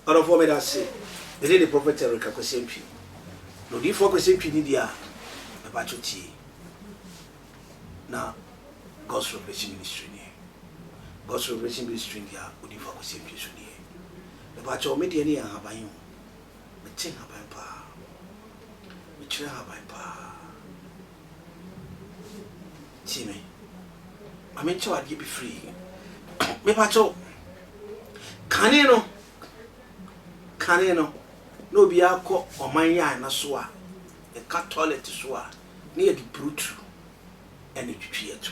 ɔdɔfoɔ meda ase mede ne prophet erika kwasɛntwi na odiyifoɔ kwasɛntwi ne deɛ a ɛbakyɛ tie na god's revelation ministry neɛ god's revelation ministry deɛ a odiyifoɔ kwasɛntwi so deɛ ɛbakyɛ ɔme deɛ ne yɛ ahaban yi ho Mete nhaban paa. Mekyerɛ nhaban paa. Tie me. Ma me nkyɛ wo adeɛ bi firi. Me pa kyɛw. Kane no. Kane no. Na obi akɔ ɔman yɛ ana so a. Yɛka toilet so a. Na yɛde brutu ɛna twitwi yɛto.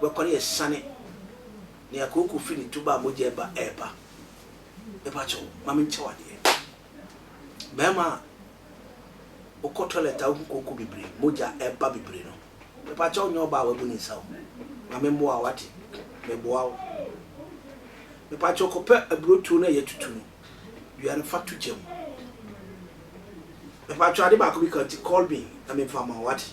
bɛkɔ ne asiane nea kooko fi ne tuba a mogya ɛba ɛɛba mepa kyɛw ma me nkyɛw adeɛ bɛɛma a wokɔ toilet a wohu kooko bebree mogya ɛba bebree no mepa kyɛw nyɛ ɔba a wabu ne nsa o ma me mmoa wate meboa wo mepa kyɛw kɔpɛ aburotuo no a yɛtutu no dua no fa to gya mu mepa kyɛw ade baako bi ka ti call me na mefa ma wate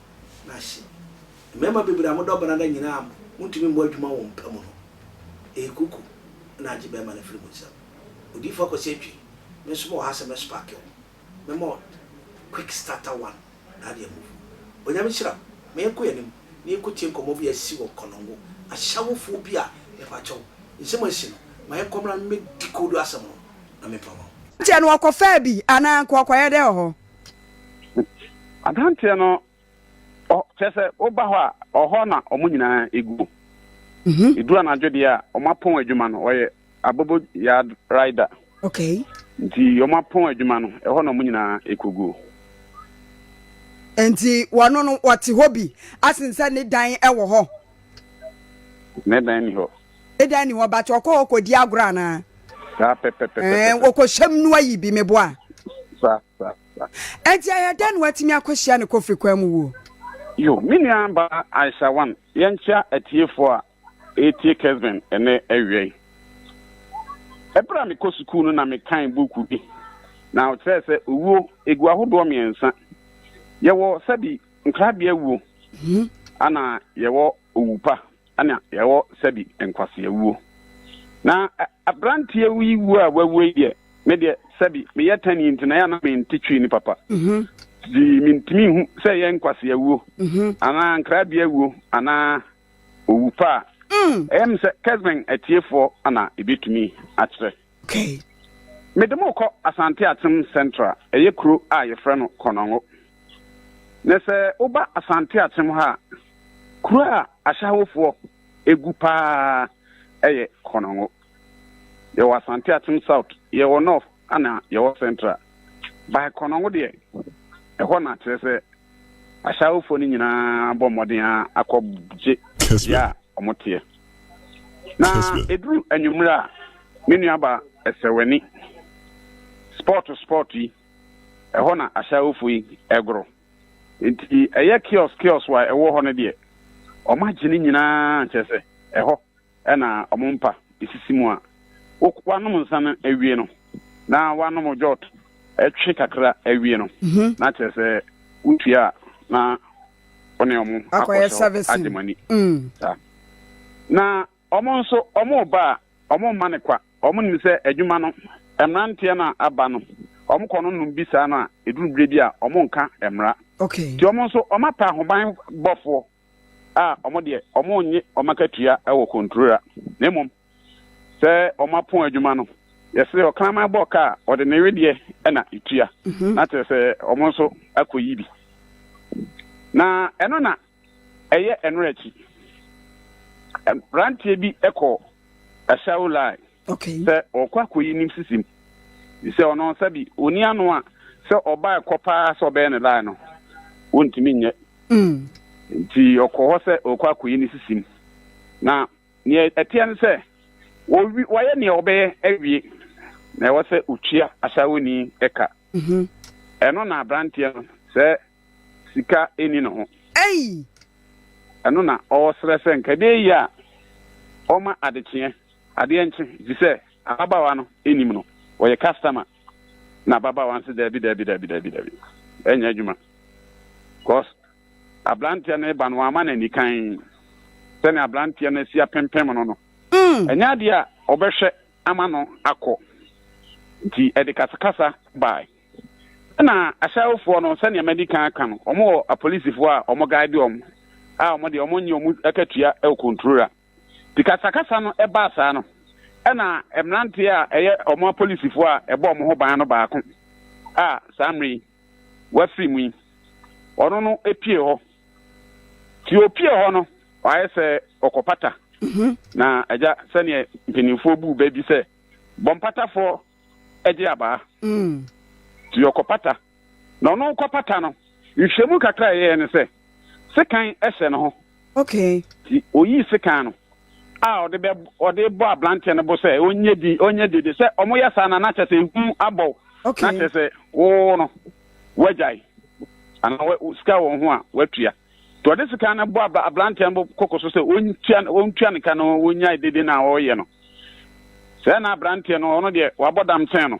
no ase. Mmarima bebree a modɔ Banada nyina a montumi mmɔ adwuma wɔ mo pɛ mu no, eyi kuku na agye barima no afiri mo nsam. Odiyifo Akwasi Atwi, me nso mewɔ ha sɛ mɛspake wo. Mɛma wo Quick Starter One na ade amuvu. Onyame nhyira wo ma yɛnkɔ yɛn anim na yɛnkɔtie nkɔmmɔ bi a asi wɔ Konongo Ashawofoɔ bi a mepakyɛw, nsɛm a asi no, ma yɛnkɔ mmra na me decode asɛm no na memfa mma wo. Kyɛ no ɔkɔfaa bi anaa nka ɔkɔyɛ dɛ wɔ hɔ? Adanteɛ no kyerɛ sɛ woba hɔ a ɔhɔ na wɔn nyinaa ɛgu. Ɛduru mhm. anadwo deɛ a wɔn apɔn adwuma no wɔyɛ abobo yard rider. Okay. Nti wɔn apɔn adwuma no ɛhɔ na wɔn nyinaa ɛkɔgu. Nti wɔn no wɔte hɔ bi asen sɛ ne dan ɛwɔ hɔ. Ne dan ni hɔ. Dɛn ni hɔ but ɔkɔ hɔ kɔdi agorɔ anaa? Saa pɛpɛpɛpɛpɛ. Ɛɛ wɔkɔhyɛm no ayi bi meboa. Sa sa sa. Ɛnti ɛyɛ dɛn na watumi akɔhyia ne kofiri kwan mu wuo? Yo, me nua ba Aisha Wan, yɛnkyea atiefoɔ a ɛretie Kesben ɛnɛ awia yi. Ɛberɛ a mekɔ sukuu no na mekan buuku bi, na ɔkyerɛɛ sɛ owuo ɛgu ahodoɔ mmiɛnsa. Yɛwɔ sɛbi nkrabea wuo, ana yɛwɔ owu pa. na yɛwɔ sɛbi nkwaseawuo. Na abranteɛ yi wuo a wawu yi deɛ, me deɛ sɛbi meyɛ tani nti na yɛ a na mente twi ne papa. Nti mentumi nhu sɛ ɛyɛ nkwaseawuo anaa nkrabea wuo anaa owu pa a. Ɛyɛ me sɛ Kesben atiefoɔ na ɛbɛtumi akyerɛ. kai. Mede mo rekɔ Asante Atsem Central, ɛyɛ kuro a yɛfrɛ no Konongo. Na sɛ woba Asante Atsem ha a, kuro a Ashawofoɔ gu pa ara yɛ Konongo. Yɛwɔ Asante Atsem South, yɛwɔ North ɛna yɛwɔ Central. By Konongo deɛ, ɛhɔ na kyerɛ sɛ Ashawofoɔ no nyinaa bɔ mmɔden ara akɔgye bea a wɔteɛ. na eduru anwummere a me nuaba ɛsɛwani sport sport yi ɛhɔ na ahyɛawofo yi ɛgoro nti ɛyɛ kiosk kiosk wa ɛwɔ hɔ no deɛ ɔmo agye ne nyinaa kyerɛ sɛ ɛhɔ ɛna ɔmo mpa esisi mu a wanom nsa no awie no na wanom jot ɛtwe kakra awie no mhm. na kyerɛ sɛ wotua na wɔn ne wɔn akɔhyɛ hɔ agye mo ani mm. saa na wɔn nso wɔn ba a wɔn mma no kwa wɔn nim sɛ adwuma no mmeranteɛ no a aba no wɔn kɔ no nom bi saa no a eduru bere bi a wɔn nka mmara nti wɔn nso wɔn apɛ ahoban bɔfoɔ a wɔn deɛ wɔn nye wɔn akatua wɔ kontura na mmom sɛ wɔapɔn adwuma no, yɛse ɔkraman bɔ kaa ɔde ne wedeɛ ɛna etua, mhm. na kyerɛ sɛ wɔn nso akɔyi bi. Na ɛno na ɛyɛ ɛno akyi. Mmeranteɛ bi kɔ ɛhyɛw lai sɛ ɔkɔ akɔyi nim sisim sɛ ɔno sɛ bi ɔni ano a sɛ ɔbaa ɛkɔ paa sɛ ɔbɛyɛ ne line no wontumi nyɛ mm. nti ɔkɔ hɔ sɛ ɔkɔ akɔyi ne sisim na Nea ɛteɛ ne sɛ, wɔwi, wɔayɛ nea wɔbɛyɛ awie, na ɛwɔ sɛ wɔtua asawoni ka. Ɛno na aberanteɛ no, sɛ sika nni ne ho. Ei! Ɛno na ɔresrɛ sɛ nka ɛbɛyɛ yie a, ɔmma adekyeɛ, adeɛ nkye, efisɛ ababaawa no nnim no. Ɔyɛ customer, na ababaawa no se, Dabi, dabi, dabi, dabi, dabi, ɛnyɛ adwuma, because. Aberanteɛ no reba no, wamma no anikann sɛdeɛ aberanteɛ no asi apempem no no. Ɛnyɛ adeɛ a ɔbɛhwɛ ama no akɔ, nti ɛde kasakasa baeɛ. Ɛnna ahyɛwofoɔ no, sɛdeɛ madi kan aka no, wɔwɔ apolisifoɔ a wɔgaede wɔn a wɔn deɛ wɔnnye wɔn akatua wɔ Konturora. Nti kasakasa no baa saa no, ɛnna mmeranteɛ a ɛyɛ wɔn apolisifoɔ a ɛbɔ wɔn ho ban no baako a saa mmerɛ yi, wɔafiri mu yi, ɔno no pue hɔ. Nti opue hɔ no, wayɛ sɛ ɔkɔpata. Mhm. Na agya sɛdeɛ mpanimfoɔ buu bɛ bi sɛ, bɔ mpatafoɔ gye abaa. Mm. Nti ɔkɔpata. Na ɔno kɔpata no, nhwɛmu kakra a ɛyɛɛ ne sɛ, sekan hyɛ ne ho. Okay. Nti oyii sekan no a ɔde bɛ ɔde bɔ abranteɛ no bo sɛ ɔnyɛ di ɔnyɛ dede sɛ ɔmo yɛ saa na na kyɛ sɛ ehu abɔw okay. na kyɛ sɛ woo no wagyae anaa sika wɔn ho a watua nti ɔde sika no bɔ abranteɛ no koko so sɛ ɔntua ɔntua ne ka no ɔnyae dede no a ɔreyɛ no sɛ na abranteɛ no ɔno deɛ wabɔ damsɛn no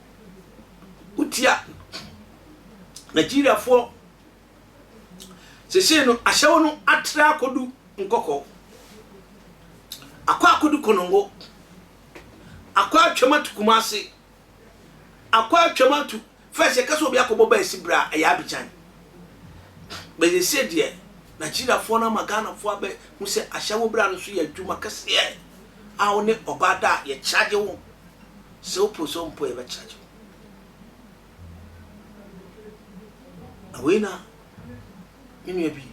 wotia Nigeriafoɔ seesei no ahyɛwo no atra akodu nkɔkɔɔ, akɔ akodu konongo, akɔ atwam atu Kumasi, akɔ atwam atu fɛs yɛka sɛ obi akɔbɔ baa esi bra ɛyɛ Abidjan bɛsesei deɛ Nigeriafoɔ no ama Ghanafoɔ abɛ hu sɛ ahyɛwo bra no so yɛ adwuma kɛseɛ a wo ne ɔbaa da a yɛkyagye wo Sɛ wo post hɔ mpo a yɛbɛ charge wo. Na wei na me nua bi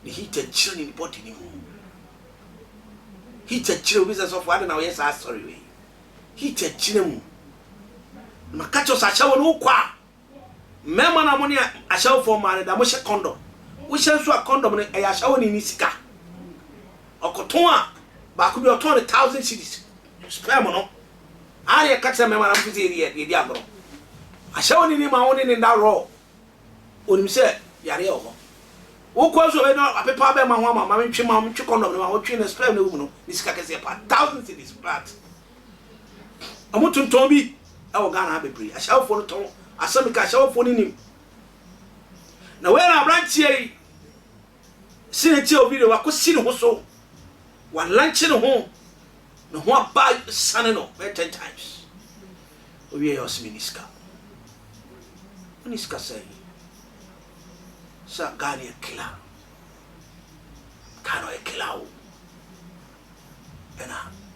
ne heater kyerɛ ne body ne mu. Heater kyerɛ obi sɛ sɔfo adɛn na woyɛ saa asɔre wei. Heater kyerɛ mu. Na maka kyerɛ wo sɛ ahyɛwɔ no wokɔ a Mmarima no a mo ne ahyɛwofoɔ mmaa no da, mohyɛ kɔndɔm. Wohyɛ nso a, kɔndɔm no, ɛyɛ ahyɛwoni no sika. Ɔkɔtɔn a, baako bi ɔtɔn no thousand cedis. Sperm no, ara na yɛka kyerɛ mmarima no, mopɛ sɛ yɛdi yɛ, yɛdi agorɔ. Ahyɛwoni no ma wo ne ne nna raw. Ɔnim sɛ yareɛ wɔ hɔ. Wokɔ nso ɔbɛyɛ dɛ apepa abɛma ho ama, ma mentwe ma, mentwe kɔndɔm no ma, wotwe na sperm no wɔ mu no, ne sika kɛseɛ paa, thousand cedis, plat. Ɔmo tontɔn bi wɔ Ghana ha bebree. Ashawofoɔ no tɔn. Asɛm meka ashawofoɔ no nim. Na wei na abranteɛ yi si ne ti a obi de wako si ne ho so. Wa lanche ne ho. Ne ho aba sane no bɛyɛ ten times. Owie yɛ ɔsimi ni sika. Oni sika sɛn. Sa Ghana yɛ kila. Ghana yɛ kila o. Ɛna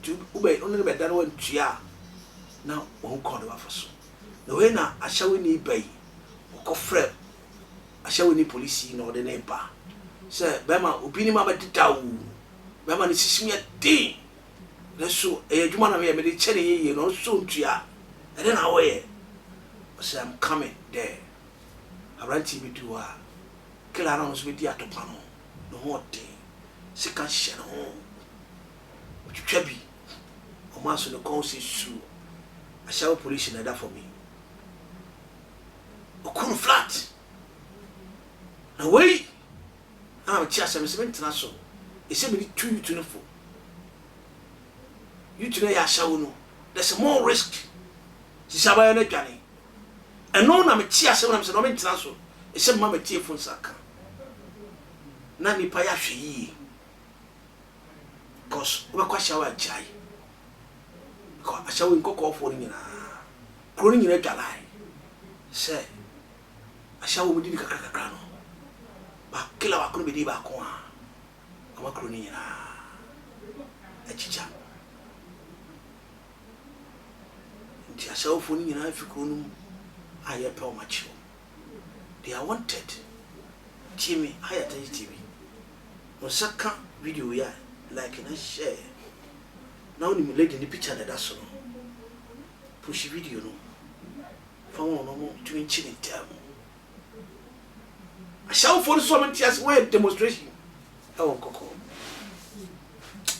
nti wobɛ wone no bɛda na wantua a na wahu kwan no wafa so na wei na ahyɛweni ba yi ɔkɔfrɛ ahyɛweni polisi yi na ɔde ne ba sɛ bɛrima obi ne ma bɛdeda o bɛrima ne sisi mu yɛ den ne so ɛyɛ adwuma na meyɛ mede kyɛ ne yɛyie na ɔno so ntua ɛdɛ na wɔyɛ ɔsɛ I'm coming there aberanteɛ bi du hɔ a kila na ɔno so bɛdi atɔpa no ne ho ɔden sika hyɛ ne ho ɔtwitwa bi, ɔmo aso ne kɔn sɛ su, Ashawo police na ɛda fɔm yi, ɔku no flat, na wei ana mete asɛm no sɛ mentena so, ɛsɛ mede tu yutu no fo, yutu no ɛyɛ Ashawo no, there's more risk, sisi abayɛ no adwane, ɛno na mete asɛm na mesɛ na mentena so, ɛsɛ mma matiefo nsa ka, na nipa yɛ ahwɛ yie. cos wobɛkɔ ashawo agyae kɔ ashawo nkɔkɔɔfoɔ no nyinaa kuro no nyinaa dwalae sɛ ashawo mu didi kakra kakra no ba kila baako no bɛdi baako a ama kuro no nyinaa akyikya nti ashawofoɔ no nyinaa fi kuro no mu a yɛpɛ wɔn akyi wɔn They are wanted tie me ha yɛ atɛnkye TV wo nsa ka video yi a like na share na wonim lady ne picture na ɛda so no push video no fa wɔn no mo tumi nkye ne ntɛm ahyɛwofoɔ no so ɔmo nte ase wɔyɛ demonstration ɛwɔ nkɔkɔɔ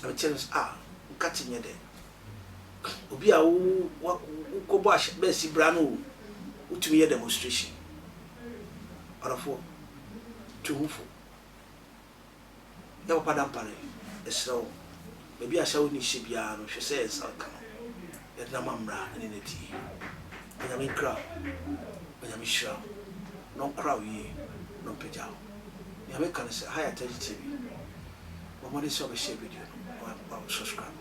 ɛbɛkyɛ no a nkate nyɛ dɛ obi a wokɔbɔ ahyɛ bɛsi bra no o, wotumi yɛ demonstration. Ɔdɔfoɔ, tu ho fo. Yɛ papa da mpare, yɛsrɛ wo. Baabi a Saul ni hyɛ biara no, hwɛ sɛ yɛn nsa ka no. Yɛde no ama mmara ne n'atie. Onyame nkra wo. Onyame nhyira wo. Na ɔnkora wo yie, na ɔmpagya wo. Nea meka ne sɛ, ha yɛ Atɛgye TV. Bɔ mmɔden sɛ wobɛshare video no, na wa subscribe.